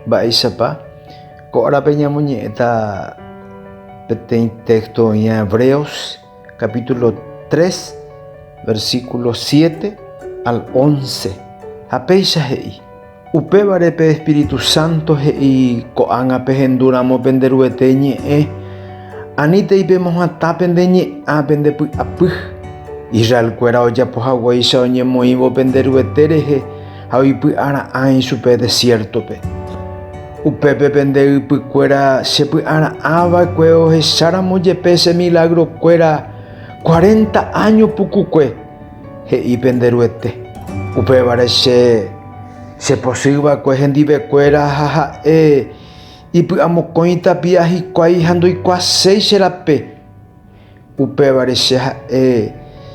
Mba'éichapa ko árape ñamoñe'ẽta peteĩ téxto oĩva Hebreos capítulo 3 versículo 7 al 11. Ha péicha he'i, upévare pe Espíritu Santo he'i ko'ág̃a pehendúramo pende Ruete ñe'ẽ, anítei pemohatã pende ñe'ã pende py'apy. Israelkuéra ojapo haguéicha oñemoĩvo pende Ruete rehe, ha oipy'ara'ã ichupe desiértope. Upépe pende ypykuéra chepy'ara'ã va'ekue ohecháramo jepe che milagrokuéra cuarenta áño pukukue, he'i pende Ruete. Upévare che chepochy va'ekue hendivekuéra ha ha'e ipy'amokõi tapia hikuái ha ndoikuaaséi che rape. Upévare che ha'e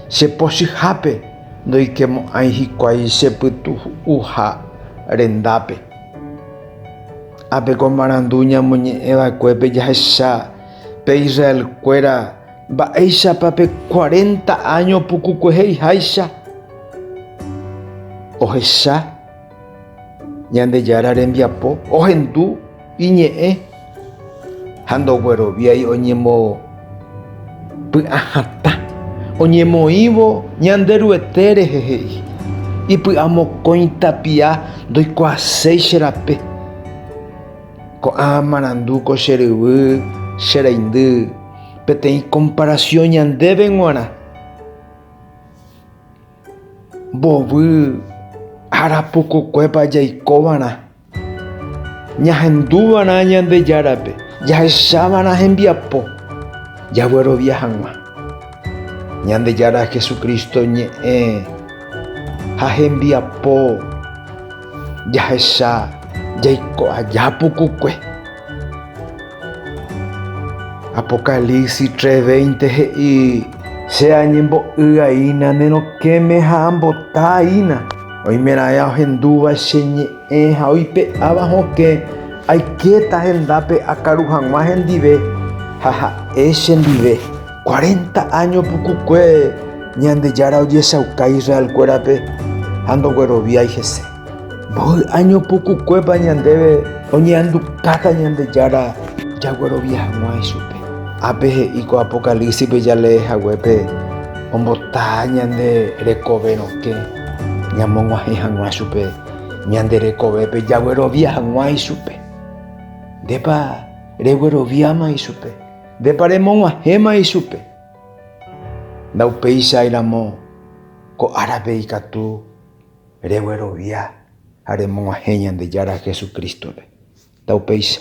che pochyhápe ndoikemo'ãi hikuái che pytu'uha rendápe. Ha pe ko marandu ñamoñe'ẽ vaekuépe jahecha pe Israel kuéra mba'éichapa pe cuarenta áño pukukuehéi háicha ohecha. Ñandejára rembiapo ohendu iñe'ẽ ha ndogueroviái oñemopy'ahatã. Oñemoĩvo Ñanderuete rehe he'i, Ipy'amokõi tapia ndoikuaaséi che rape. Ko'ã marandu ko che ryvy che reindy peteĩ komparasiõ ñandéve g̃uarã. Mbovy ára pukukuépa jaikova'erã, ñahenduva'erã Ñandejárape, jahechava'erã hembiapo jaguerovia hag̃ua Ñandejára Jesucristo ñe'ẽ ha hembiapo jahecha jaiko aja pukukue. Apocalipsis 3:20 he'i, Che añembo'y aína ne rokẽme ha ambota aína, oimeraẽ ahendúva che ñe'ẽ ha oipe'áva hokẽ, aikéta hendápe akaru hag̃ua hendive ha ha'e chendive, Cuarenta áño pukukue Ñandejára ojechauka Israelkuérape ha ndogueroviái hese. Mboy año pukukuépa ñandéve oñe'andukáta Ñandejára jaguerovia hag̃ua ichupe. Ápe he'i ko Apocalípsipe jalee haguépe ombota ñande rekove rokẽ ñamog̃uahẽ hag̃ua chupe ñande rekovépe jaguerovia hag̃ua ichupe. Ndépa regueroviáma ichupe? Ndépa remog̃uahẽma ichupe? Ndaupéichai ramo ko árape ikatu reguerovia ha remog̃uahẽ Ñandejára Jesucristo-pe. Taupéicha.